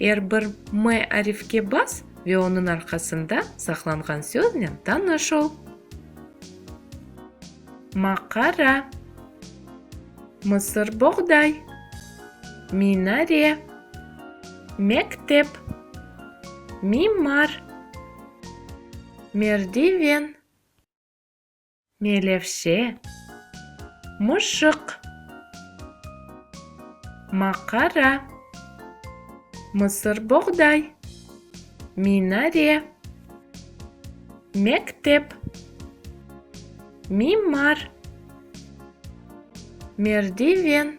Er bir M arifke bas ve onıñ arqasında saqlanğan söznen tanış ol. Maqara Mısır boğday Minare Mektep Mimar Merdiven Melevşe, mışıq. Maqara, mısırboğday. Minare, mektep. Mimar, merdiven.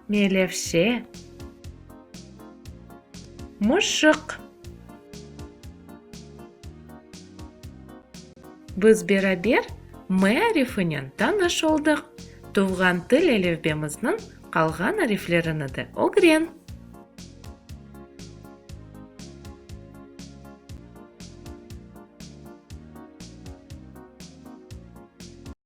Melevşe, mışıq. Biz beraber mearifinen tanış oldıq. Tuvğan til elifbemizniñ qalğan ariflerini de ögren.